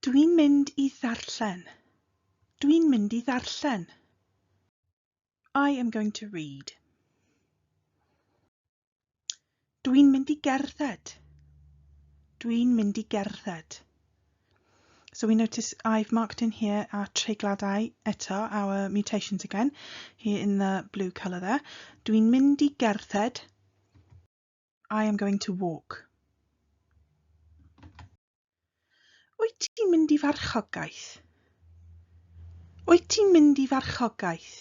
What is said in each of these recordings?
Dwi'n mynd i ddarllen. Dwi'n mynd i ddarllen. I am going to read. Dwi'n mynd i gerdded. Dwi'n mynd i gerdded. So we notice I've marked in here our treigladau eto, our mutations again, here in the blue colour there. Dwi'n mynd i gerdded. I am going to walk. Wyt ti'n mynd i farchogaeth? Wyt ti'n mynd i farchogaeth?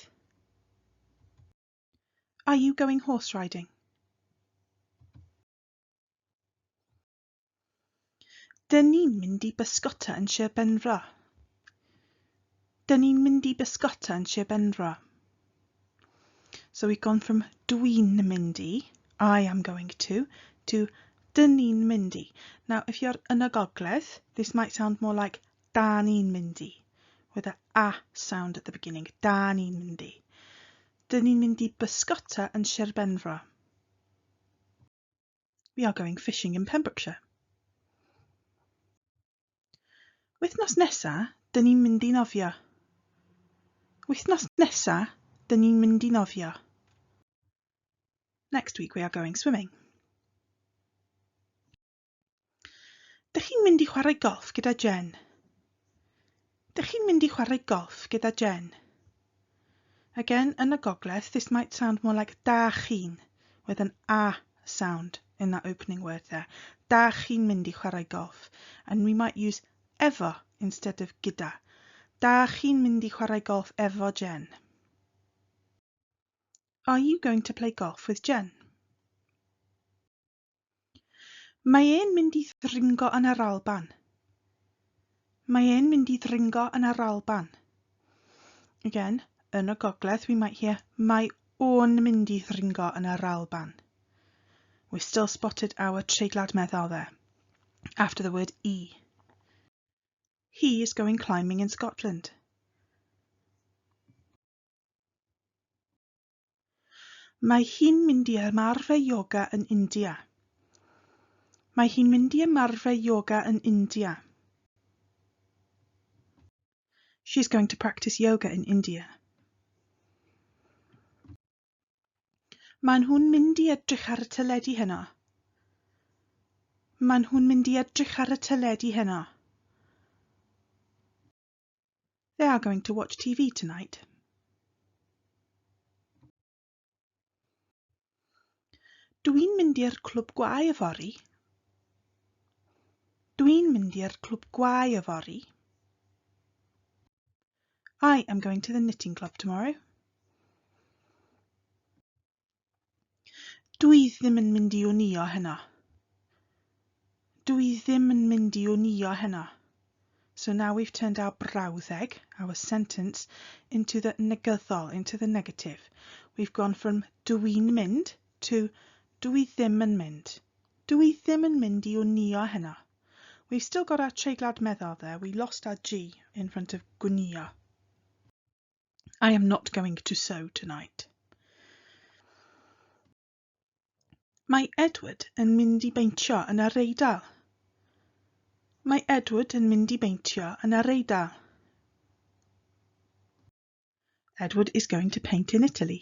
Are you going horse riding? Dyn ni'n mynd i bysgota yn Sir Benfro. Dyn ni'n mynd i bysgota yn Sir Benfro. So we've gone from dwi'n mynd i, I am going to, to dyn ni'n mynd i. Now, if you're yn y gogledd, this might sound more like da ni'n mynd i, with a a sound at the beginning. Da ni'n mynd i. Dyn ni'n mynd i bysgota yn Sir Benfro. We are going fishing in Pembrokeshire. Wythnos nesa, dyn ni'n mynd i nofio. Wythnos nesa, dyn ni'n mynd i nofio. Next week we are going swimming. Dych chi'n mynd i chwarae golff gyda Jen? Dych chi'n mynd i chwarae golff gyda Jen? Again, yn y gogledd, this might sound more like da chi'n, with an a sound in that opening word there. Da chi'n mynd i chwarae golff. And we might use efo instead of gyda. Da chi'n mynd i chwarae golff efo Jen? Are you going to play golf with Jen? Mae e'n mynd i ddringo yn yr Alban. Mae e'n mynd i ddringo yn yr Alban. Again, yn y gogledd, we might hear mae o'n mynd i ddringo yn yr Alban. We still spotted our treiglad meddal there. After the word e. He is going climbing in Scotland. Mae hi'n mynd i ymarfer ioga yn India. Mae hi'n mynd i ymarfer ioga yn India. She's going to practice yoga in India. Maen nhw'n mynd i edrych ar y teledu heno. Maen nhw'n mynd i edrych ar y teledu heno. They are going to watch TV tonight. Dw i'n mynd i'r clwb gwae yfory. Dw i'n mynd i'r clwb gwae yfory. I am going to the knitting club tomorrow. Dw i ddim yn mynd i wnïo heno. Dw i ddim yn mynd i wnïo heno. So now we've turned our brawddeg, our sentence, into the negyddol, into the negative. We've gone from dw i'n mynd to dw i ddim yn mynd. Dw i ddim yn mynd i wnïo heno. We've still got our treiglad meddal there, we lost our G in front of gwnïo. I am not going to sew tonight. Mae Edward yn mynd i beintio yn yr Eidal. Mae Edward yn mynd i beintio yn yr Eidal. Edward is going to paint in Italy.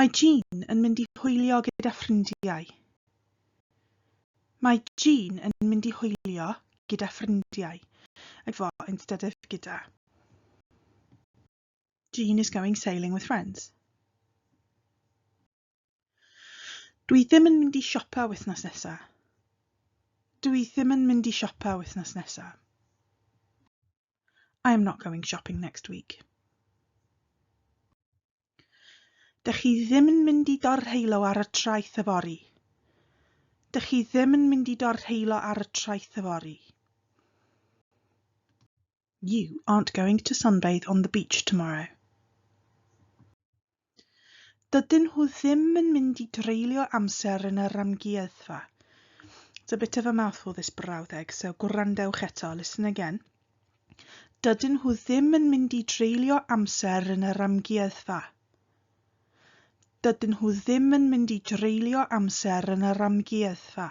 Mae Jean yn mynd i hwylio gyda ffrindiau. Mae Jean yn mynd i hwylio gyda ffrindiau. Like fo, instead of gyda. Jean is going sailing with friends. Dwi ddim yn mynd i siopa wythnos nesa. Dwi ddim yn mynd i siopa wythnos nesa. I am not going shopping next week. Dych chi ddim yn mynd i dorheilo ar y traeth yfory. Dych chi ddim yn mynd i dorheilo ar y traeth yfory. You aren't going to sunbathe on the beach tomorrow. Dydyn nhw ddim yn mynd i dreulio amser yn yr amgueddfa. It's a bit of a mouthful this brawddeg, so gwrandewch eto, listen again. Dydyn nhw ddim yn mynd i dreulio amser yn yr amgueddfa. Dydyn nhw ddim yn mynd i dreulio amser yn yr amgueddfa.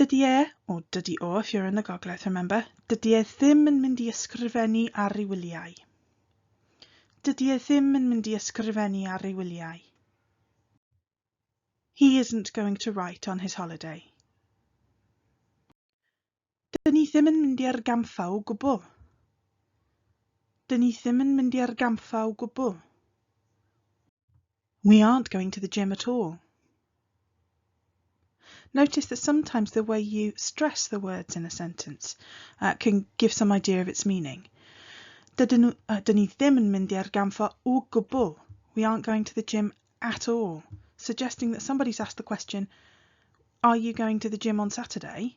Dydy e, o dydy o if you're in the gogledd remember, dydy e ddim yn mynd i ysgrifennu ar ei wyliau. Dydy e ddim yn mynd i ysgrifennu ar ei wyliau. He isn't going to write on his holiday. Dyn ni ddim yn mynd i argampfa o gwbl. Dyn ni ddim yn mynd i argampfa o gwbl. We aren't going to the gym at all. Notice that sometimes the way you stress the words in a sentence uh, can give some idea of its meaning. Dydyn nhw, uh, dyn ni ddim yn mynd i argamfa o gwbl. We aren't going to the gym at all. Suggesting that somebody's asked the question, are you going to the gym on Saturday?